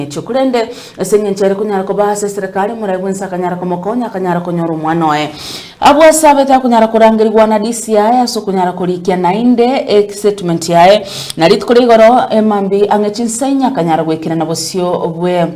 Echo. Korende ase engencho ere konyara koba ase eserekari, omorai bwense akanyara komokonya, akanyara konyora omwana oye. Abwo asabete akonyara korangerigwa na DCI ase okonyara korikia naende esetimenti yaye, na rituko ria igoro emambia ang'e chinsa inye akanyara goikerana bosio bwe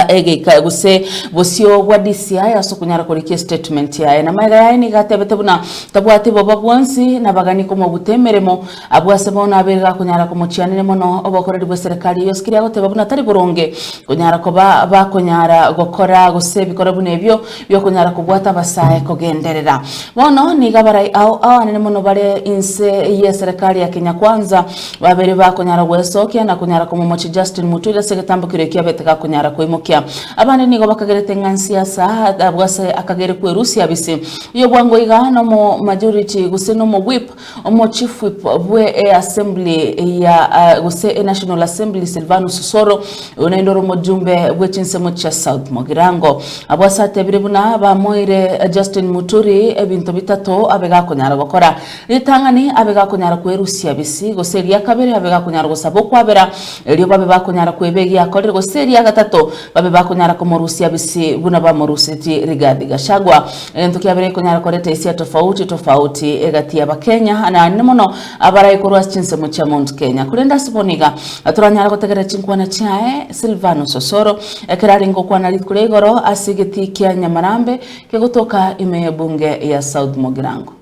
egeika gose bosio bwa DCI ase okonyara korikia esetimenti yaye. Na magega yaye nigo atebete buna tabwati boba bwonsi, nabagani komobuta emeremo, Abwo ase bono abe gakonyara komochianire mono obokoreri bw'eserekari, eyo sikiri agoteba buna tari boronge konyara koba bakonyara gokora gose ebikore buna ebio bi'okonyara kobwata abasae kogenderera. Bono nigo abarai ao abanene mono bare inse y'eserekari ya Kenya Kwanza babere bakonyara gwesokia na konyara komomochia Justin Muturi ase egetambo keria ekio abete gakonyara koimokia. Abande nigo bakagerete ng'a nsiasa, abwo ase akagere kwerusia bisi. Oyobwango iga nomo majority gose nomo whip Omochifwip bwe e Assembly ya gose e National Assembly Silvanus Soro, oyo naende ore omojumbe bwe chinsemo chia South Mogirango abwo ase atebire buna bamoire Justin Muturi ebinto bitato abe gakonyara gokora ritang'ani abe gakonyara kwerusia bisi gose eria kabere abe gakonyara gosaba okwabera erio babe bakonyara kweba egia akorire gose eria gatato babe bakonyara komorusia bisi buna bamorusetie Rigathi Gachagua Egento kia kabere ekonyara koreta esia tofauti tofauti egati y'Abakenya, naende mono abarai korwa ase chinsemo chia Mount Kenya. Korende ase bono iga toranyare gotegerera chinkwana chiaye. Silvanus Osoro, ekero arenge okwana rituko ria igoro ase egetii kia Nyamarambe kegotoka ime y'ebunge ya South Mugirango.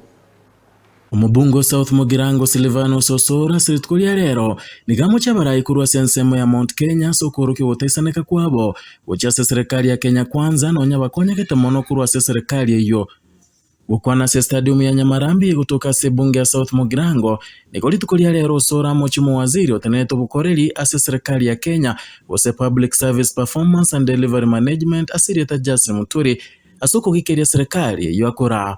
Omobunge o South Mugirango Silvanus Osoro ase rituko ria rero nigo amochia abarai korwa ase ensemo ya Mount Kenya ase okoorokia ogotaisaneka kwabo gochia ase serikali ya Kenya Kwanza nonya bakonyegete mono korwa ase serikali eyio Gokwana ase stadium ya Nyamarambi gotoka ase ebunge ya South Mugirango nigo rituko ria rero Osoro amochie omowaziri otenerete obokoreri ase serikali ya Kenya gose Public Service Performance and Delivery Management ase erieta Justin Muturi ase okogikeria serikali eyio akoraa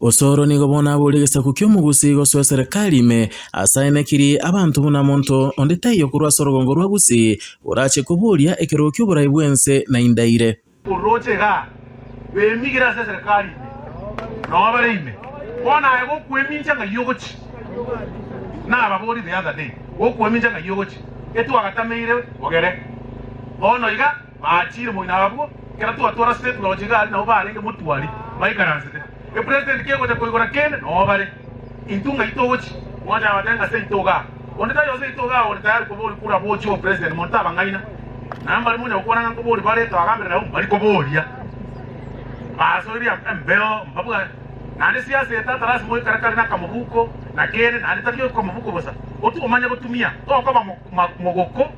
Osoro nigo bono abore egesaku ki'omogusi gosoa eserekari ime, ase aye nekiri abanto buna monto onde taiyo korwa ase orogongo rwa Gusii orache koboria ekerogo ki'oborai bw'ense na indaire. Orooche igaa, bemigire ase eserekari ime, nao bare ime, bono aye gokwemincha ng'ai ogochi? Nababorie the other day, gokwemincha ng'ai ogochi? Getwagatameire ogere bono iga. Baachire moino abwo, ekero twatwara state lodge iga aria nabo barenge motwari baikaransete. Epresident kegocha koigora kende noo bare. Intwe ng'ai togochi? Mwancha abatebia ng'a ase intwe iga aa. Onde tari ase intwe iga aa ore tayari koba ore kura bochie obe president monto tabang'aina. Na mbare monyare gokwana ng'a nkobori bare twagambire nabo mbari koboria. Basoiria embeo mbabwate. Naende siasa eye tatarasi moikare kare na kamobuko na kende naende tari okomobuko bosa. Otwo omanye gotumia tokoba mogoko.